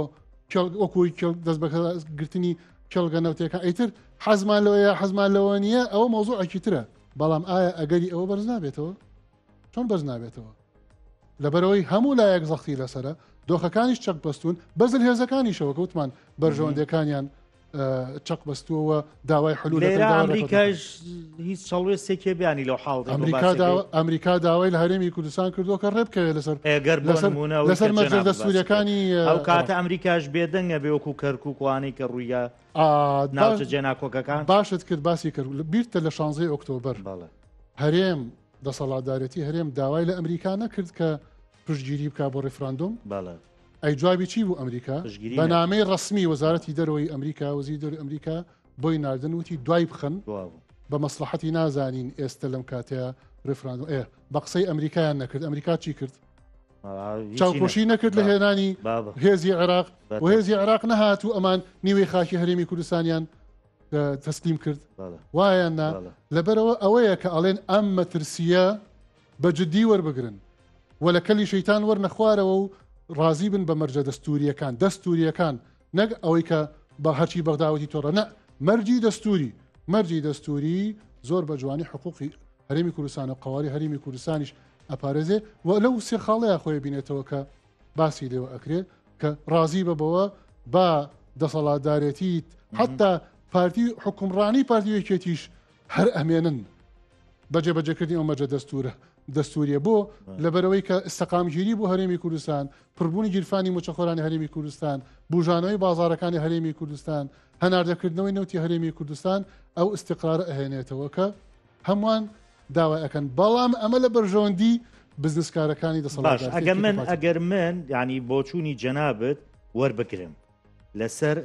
وەکوی دەست بەگرتنی کێڵگە نەوتەکە ئەیتر حەزمان لەوەیە حەزمان لەوە نییە ئەوە مۆزوعێکی ترە بەڵام ئایا ئەگەری ئەوە بەرز نابێتەوە چۆن بەرز نابێتەوە لەبەرەوەی هەموو لایەک زەختی لەسرە دۆخەکانیش چەک بەستون بەزل هێزەکانیشەوە کەوتمان بەرژەوەندەکانیان چەق بەستووەوە داوای حلول ئەمریکاش هیچ چڵێستێکی بیانی لەو حاڵ ئەمریکا داوای لە هەرێمی کوردستان کردو کە ڕێبکەوێت لەسەر ئەگەر بەسەرمونە لەسەر مەجردە سوورەکانی ئەو کاتە ئەمریکاش بێدەنگە بێ وەکو کەرکووکوانەی کە ڕوویە ناوچە جێناکۆکەکان باشت کرد باسی کرد بیرتە لە شانزەی ئۆکتۆبر هەرێم دەسەڵاتدارەتی هەرێم داوای لە ئەمریکا نەکرد کە پشتگیری بکا بۆ ڕیفراندۆم بەڵێ ئەی جوابی چی بوو ئەمریکا پشتگیری بە نامەی ڕسمی وەزارەتی دەرەوەی ئەمریکا وەزی دەر ئەمریکا بۆی ناردن وتی دوای بخەن بوابوو بە مەسلحەتی نازانین ئێستا لەم کاتەیە ڕفراندۆم ئێ بە قسەی ئەمریکایان نەکرد ئەمریکا چی کرد چاوپۆشی نەکرد لە هێنانی بابە هێزی عێراق بەتە. و هێزی عێراق نەهات و ئەمان نیوەی خاکی هەرێمی کوردستانیان اه، تەسلیم کرد بەڵێ وایان نا بەڵێ لەبەرەوە ئەوەیە کە ئەڵێن ئەم مەترسیە بە جدی وەربگرن و لە کەلی شەیتان وەرنە خوارەوە و ڕازی بن بە مەرجە دەستوورییەکان دەستوورییەکان نەک ئەوەی کە بە هەرچی بەغداوەتی تۆڕە نە مەرجی دەستووری مەرجی دەستووری زۆر بە جوانی حقوقی هەرێمی کوردستان و قواری هەرێمی کوردستانیش ئەپارێزێ و لەو سێ خاڵەیە خۆی بینێتەوە کە باسی لێوە ئەکرێ کە ڕازی بە بەوە با دەسەڵاتدارێتیت حتا پارتی حکومڕانی پارتی یەکێتیش هەر ئەمێنن بە جێبەجێکردنی ئەو مەرجە دەستورە دەستوریە بۆ لەبەرەوەی کە سەقامگیری بۆ هەرێمی کوردستان پڕبوونی گیرفانی موچەخۆرانی هەرێمی کوردستان بژانەوەی بازارەکانی هەرێمی کوردستان هەناردەکردنەوەی نەوتی هەرێمی کوردستان ئەو استقرار ئەهێنێتەوە کە هەمووان داوای ئەەکەن بەڵام ئەمە لە بەرژەوەندی بزنسکارەکانی دەسەڵات ئەگە من ئەگەر من ینی بۆچوونی جەنابەت وەربگرم لەسەر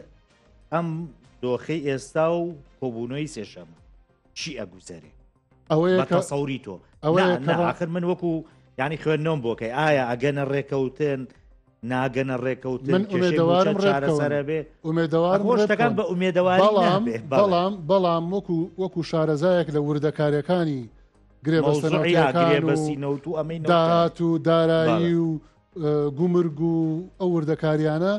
ئەم دۆخی ئێستا و کۆبوونەوەی سێشەمە چی ئەگوزەرێ ئەوەیە کە سەوری تۆ ئەوەخر من وەکو ینی خوێندنەوەم بۆکەی ئایا ئەگەنە ڕێکەوتن ناگەنە ڕێکەوت من ئومێدەوارم چارەسەرە بێ ئومێدەوار ڕۆشتەکان بە ئومێدەوار بەڵام بەڵام بەڵام وەکو وەکو شارەزایەک لە وردەکارەکانی گرێ بەستەنەوەسینەوت و ئەمەی داهات و دارایی و گومرگ و ئەو وردەکاریانە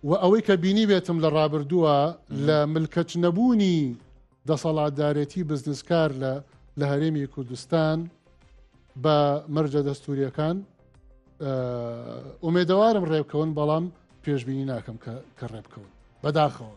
وە ئەوەی کە بینیبێتم لە ڕابردووە لە ملکەچ نەبوونی دەسەڵاتدارێتی بزنسکار لە لە هەرێمی کوردستان بە مەرجە دەستوریەکان ئومێدەوارم ڕێبکەون بەڵام پێشببینی ناکەم کە ڕێبکەون بەداخەوە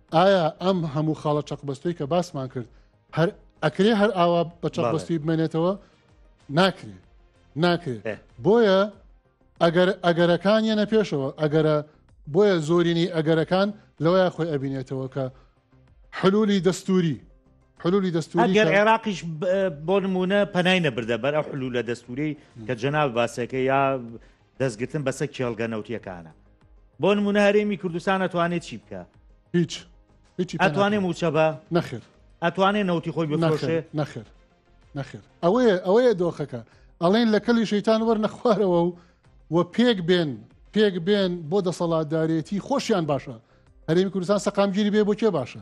ئایا ئەم هەموو خاڵە چەقبەستوی کە باسمان کرد هەر ئەکرێ هەر ئاوا بە چەقبەستی بمێنێتەوە ناکرێ ناکرێ بۆیە ئەگەر ئەگەرەکان یەنە پێشەوە ئەگەرە بۆیە زۆرینی ئەگەرەکان لەوەیە خۆی ئەبینێتەوە کە حلولی دەستوری حلولی دەستوری گەر عێراقیش بۆ نمونە پەنای نەبردە بەر ئە حلو لە دەستوری کە جەناو باسەکە یا دەستگرتن بەسە کێڵگە نەوتیەکانە بۆ نمونە هەرێمی کوردستان ئەتوانێت چی بکە هیچ هیچی ئەتوانێ موچە بە نەخر ئەتوانێ نەوتی خۆی بفرۆشێ نەخر نەخر ئەوەیە ئەوەیە دۆخەکە ئەڵێن لە کەلی شەیتان وەر نەخوارەوە و و پێک بێن پێک بێن بۆ دەسەڵاتدارێتی خۆشیان باشە هەرێمی کوردستان سەقامگیری بێ بۆ کێ باشە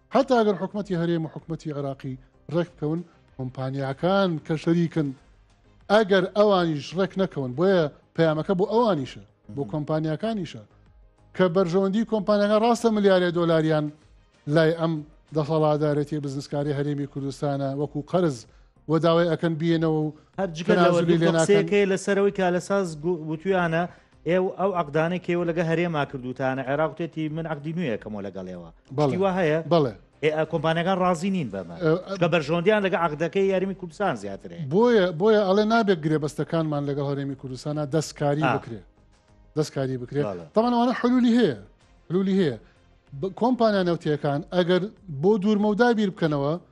هەتا ئەگەر حکومەتی هەرێم و حکومەتی عێراقی ڕێک بکەون کۆمپانیاکان کە شەریکن ئەگەر ئەوانیش ڕێک نەکەون بۆیە پەیامەکە بۆ ئەوانیشە بۆ کۆمپانیاکانیشە کە بەرژەوەندی کۆمپانیەکە ڕاستە ملیارێ دۆلاریان لای ئەم دەسەڵادارەتی بزنسکاری هەرێمی کوردستانە وەکو قەرز و داوای ئەکەن بێنەوە و هەر جگە لەوە تەنازولی دوو لێ ناکەن قسەیەکەی لەسەرەوەی کالەساز گو- وتویانە ئێو ئەو عەقدانەی کەیوە لەگە هەرێما کردوتانە عێراق وتێتی من عەقدی نوێیەکەمەوە لەگەڵێوە بەڵێ. شتی وا هەیە بەڵێ ئێ، ئە، کۆمپانیەکان ڕازی نین بەمە ئە، ئە. چکە بەرژەوەندیان لەگە عەقدەکەی یاریمی کوردستان زیاترێ بۆیە بۆیە ئەڵێ نابێت گرێبەستەکانمان لەگەڵ هەرێمی کوردستانە دەستکاری آه. بکرێ دەستکاری بکرێت بەڵێ. تاوان ئەوانە حلولی هەیە حلولی هەیە ب- کۆمپانیا نەوتیەکان ئەگەر بۆ دوورمەودا بیر بکەنەوە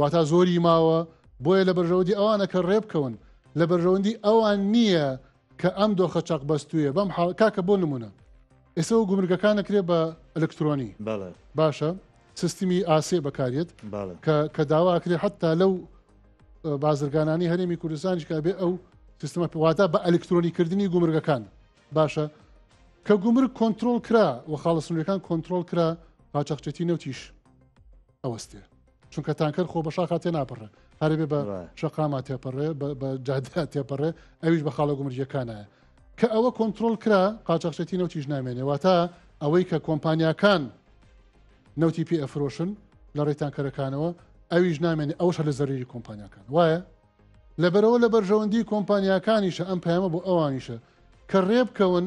واتا زۆری ماوە بۆیە لە بەرژەوەندی ئەوانە کە ڕێبکەون لە بەرژەوەندی ئەوان نییە کە ئەم دۆخە چەق بەستویە بەم کاکە بۆ نمونە ئێستا و گومرگەکان نەکرێت بە ئەلکترۆنی باشە سیستمی ئاسێ بەکارێت کە داواکرێت حتا لەو بازرگانانی هەرێمی کوردستانیش کە بێ ئەو سیستمە پێواتا بە ئەلکترۆنیکردنی گومرگەکان باشە کە گومرگ کۆنتترۆل کرا و خاڵسنورەکان کۆنتترۆل کرا پاچەخچێتی نەوتیش ئەوەستێ چونکە تانکەر خۆ بە شاخا تێ ناپەڕێ هەرێ بە شقاما تێپەڕێ بە جادیا تێپەڕێ ئەویش بە خاڵە گومرجەکانایە کە ئەوە کۆنتترۆل کرا قاچەخشێتی نەوتیش نامێنێ واتە ئەوەی کە کۆمپانیاکان نەوتی پێ ئەفرۆشن لە ڕێتانکەرەکانەوە ئەویش نامێنێ ئەوش لە زەریری کۆمپانیاکان وایە لەبەرەوە لە بەرژەوەندی کۆمپانیاکانیشە ئەم پەیامە بۆ ئەوانیشە کە ڕێبکەون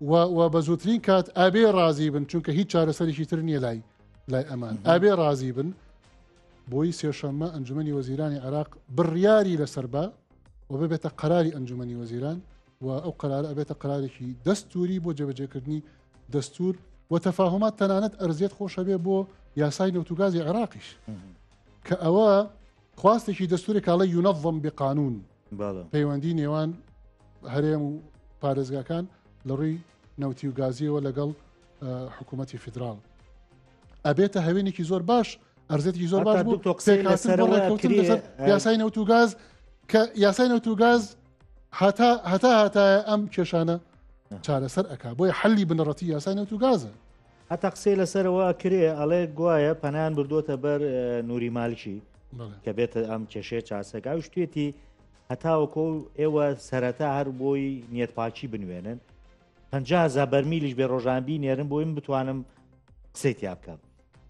و بە زووترین کات ئابێ ڕازی بن چونکە هیچ چارەسەرێکی تر نییە لای لای ئەمان ئابێ ڕازی بن بۆی سێشەممە ئەنجومی وەزیرانی عراق بڕیاری لەسەر بە و ببێتە قەراری ئەنجومی وەزیران و ئەو قرار ئەبێتە قرارێکی دەستوری بۆ جێبەجێکردنی دەستور و تەفاهمات تەنانەت ئەرزێت خۆشەبێ بۆ یاسای نەوتوگازی عێراقیش کە ئەوە خواستێکی دەستوری کاڵە یونەڤم بقانون پەیوەندی نێوان هەرێم و پارێزگاکان لە ڕووی نەوتی و گازیەوە لەگەڵ حکوومەتتی فیدرال ئەبێتە هەوێنێکی زۆر باش ئەرزێتی زۆر باش بوو یاسای نەوت و گاز کە یاسای نەوت و گاز هەتا هەتا هەتایە ئەم کێشانە چارەسەر ئەک بۆی حەلی بنەڕەتی یاسای نەوت و گازە هەتا قسەی لەسەرەوە ئەکرێ ئەڵێ گوایە پەنان بردووەتە بەر نوری مالکی کە بێتە ئەم کێشەیە چاسەکە و شتێتی هەتاوەکۆ ئێوە سەرەتا هەر بۆی نیەت پاچی بنوێنن پزا بەرمیلیش بێ ڕۆژانبی نێرن بۆی من بتوانم قسەی تیا بکەم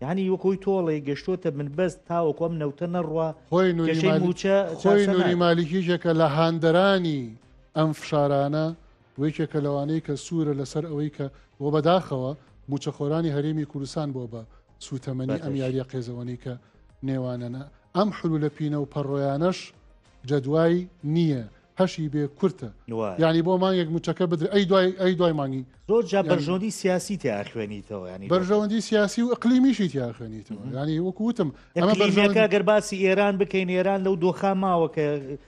یعنی وەکۆی تۆڵی گەشتۆتە من بەست تاوەکۆم نەوتە نەڕە خۆی نوچە خۆی نوری مالیکیشەکە لە هاندەرانی ئەم فشارانە و یەکێکە لەوانەی کە سوورە لەسەر ئەوەی کە و بەداخەوە مووچەخۆرانی هەرێمی کوردستان بووە بە سووتەمەنی ئەم بەدەشت. یارییە قێزەوەنەی کە نێوانەنە. ئەم حلوولە پینە و پەڕۆیانەش جەدوای نییە، هەشی بێ کورتە. وایە. یانی بۆ مانگێک مووچەکە بدرێ ئەی دوای ئەی دوای مانگی. زۆر جار یانی. بەرژەوەندی سیاسی تیا ئەخوێنیتەوە یانی لۆکە. بەرژەوەندی سیاسی و ئیقلیمیشی تیا ئەخوێنیتەوە. یانی وەکوو وتم ئەمە ئیقلیمییەکە بەرژەوەندی. گەر باسی ئێران بکەین ئێران لەو دۆخە ماوە کە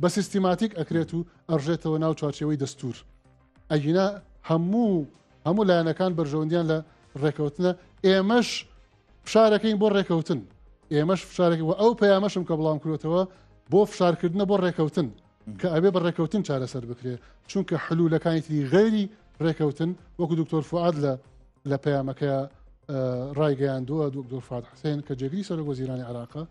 بە سیستیماتیک ئەکرێت و ئەڕژێتەوە ناو چوارچێوەی دەستور ئەگینا هەموو هەموو لایەنەکان بەرژەوەندیان لە ڕێکەوتنە ئێمەش فشارەکەین بۆ ڕێکەوتن ئێمەش فشارێک و ئەو پەیامەشم کە بڵام کرێتەوە بۆ فشارکردنە بۆ ڕێکەوتن کە ئەبێ بە ڕێکەوتن چارەسەر بکرێ چونکە حلوولەکانی تری غێری ڕێکەوتن وەکو دکتۆر فعاد لە لە پەیامەکە ڕایگەیاندووە دکتۆر فات حسێن کە جێگری سەرۆک وەزیرانی عراقە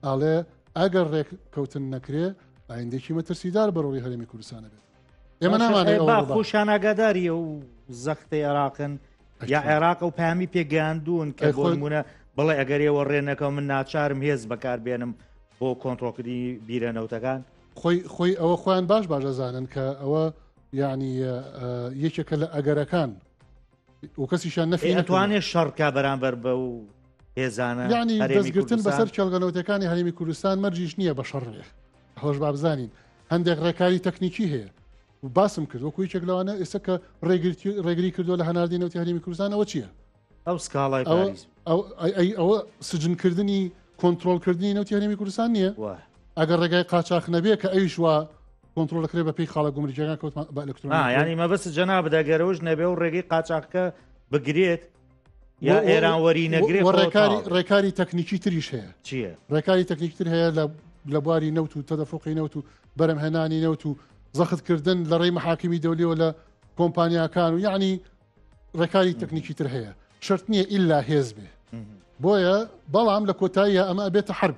ئەڵێ ئەگەر ڕێک کەوتن نەکرێ ئایندێکی مەترسیدار بەڕۆی هەرێمی کوردستانە بێت ئێمە نامانخۆشانناگاداری و زەختی عێراقن یا عێراق و پامی پێگەاندون کە خۆمونە بڵێ ئەگەرەوە ڕێنەکەم من ناچارم هێز بەکاربێنم بۆ کۆنتترۆکردنی بیرە نەوتەکان خۆی خۆی ئەوە خۆیان باش باش دەزانن کە ئەوە یعنی یەکێکە لە ئەگەرەکان و کەسیشان نەفی ئەتوانێت شەڕکە بەرامبەر بە و هێزانە ینی دەستگرتن بەسەر کێڵگەنەوتەکانی هەرمی کوردستان مەرجیش نییە بە شەڕێ هەڵش بابزانین هەندێک ڕێکاری تەکنیکی هەیە باسم کرد وەکو یەکێک لەوانە ئێستا کە ڕێگرتی ڕێگری کردو لە هەناردی نەوتی هەرمی کوردستانەوە چییە ئەو سکاڵای ئەوە سجنکردنی کۆنتترۆلکردنی نەوتی هەرمی کوردستان نییە ئەگەر ڕێگای قاچاخ نەبێ کە ئەویش وە کۆنتترۆل دەکرێت بە پێی خاڵە گومرجیەکان کەوت بە ئەلکترۆن ینی مەبست جەنا بدەگەرەوەش نەبێ و ڕێگەی قاچاقکە بگرێت یا ئێران وەری نەگرێت ڕێکاری ڕێکاری تەکنیکی تریش هەیە چییە ڕێکاری تەکنیکتر هەیە لە لە بواری نەوت و تەدەفۆقی نەوت و بەرەمهێنانی نەوت و زەختکردن لە ڕێی محاکمی دەولیەوە لە کۆمپانیاکان و یعنی ڕێکاری تەکنیکی تر هەیە شرت نییە ئللا هێز بێ بۆیە بەڵام لە کۆتاییە ئەمە ئەبێتە حرب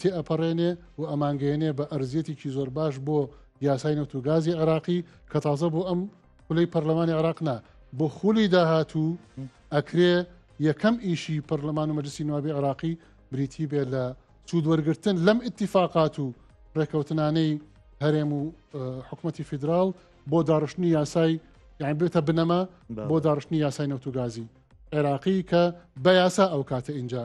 تێئەپەڕێنێ و ئەمانگەیەنێ بە ئەرزیەتێکی زۆر باش بۆ یاسای نەوت و گازی عێراقی کە تازە بۆ ئەم خولەی پەرلەمانی عێراق نا بۆ خولی داهاتوو ئەکرێ یەکەم ئیشی پەرلەمان و مەجلسی نوابی عێراقی بریتی بێت لە سوود وەرگتن لەم اتفاقات و ڕێکەوتنانەی هەرێم و حکوومەتتی فیدرال بۆ داڕشتنی یاسای یان بێتە بنەما بۆ داڕشتنی یاسای نەوتوگازی عێراقی کە بە یاسا ئەو کاتە ئینجا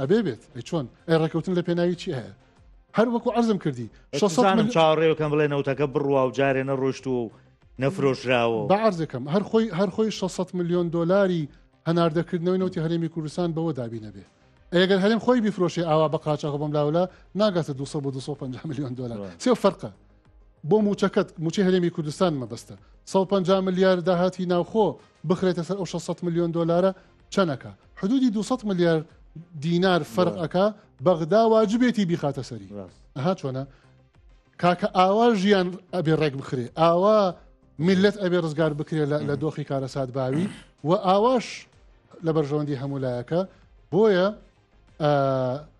ئەبێ بێت ئەی چۆن ئەی ڕێککەوتن لە پێناوی چی هەیە هەر وەکو عزم کردی شەسانم چاڕێەکەم بڵێ نەوتەکە بڕوا و جارێ نەڕۆشت و نەفرۆشراوە بە عرزەکەم هەر خۆی هەر خۆی 600 میلیۆن دلاری هەناردەکردنەوەی نەوتی هەرێمی کوردستان بەوە دابی نەبێ ئەگەر هەرم خۆی بیفرۆشی ئاوا بە قاچاخ بم لاولا ناگاتە 250 میلیۆن دلار سێ فەرقە بۆ موچەکەت موچی هەرێمی کوردستان مەبەستە 150 میلیارد داهاتی ناوخۆ بخرێتە سەر ئەو 600 میلیۆن دلارە چەنەکە حدودی 200 ملیار دینار فەرقەکە بەغدا واجبێتی بیخاتە سەری ئەها چۆنە کاکە ئاوا ژیان ئەبێ ڕێک بخرێ ئاوا میلەت ئەبێ ڕزگار بکرێ لە دۆخی کارەسات باوی و ئاواش لە بەرژەوەندی هەمولایەکە بۆیە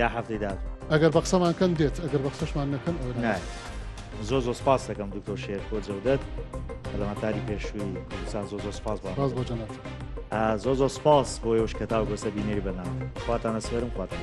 یا هەفتەی داهاتوو ئەگەر بە قسەمان کەن دێت ئەگەر بە قسەشمان نەکەن ئەو نایە زۆر زۆر سپاس دەکەم دکتۆر شێر بۆ جەودەت پەرلەمانتاری پێشووی کوردستان زۆر زۆر سپاس بە سپاس بۆ جەنابت آ، زۆر زۆر سپاس بۆ یوش کە تا گۆسە بینێری بەناو خواتانە سپێرم خواتان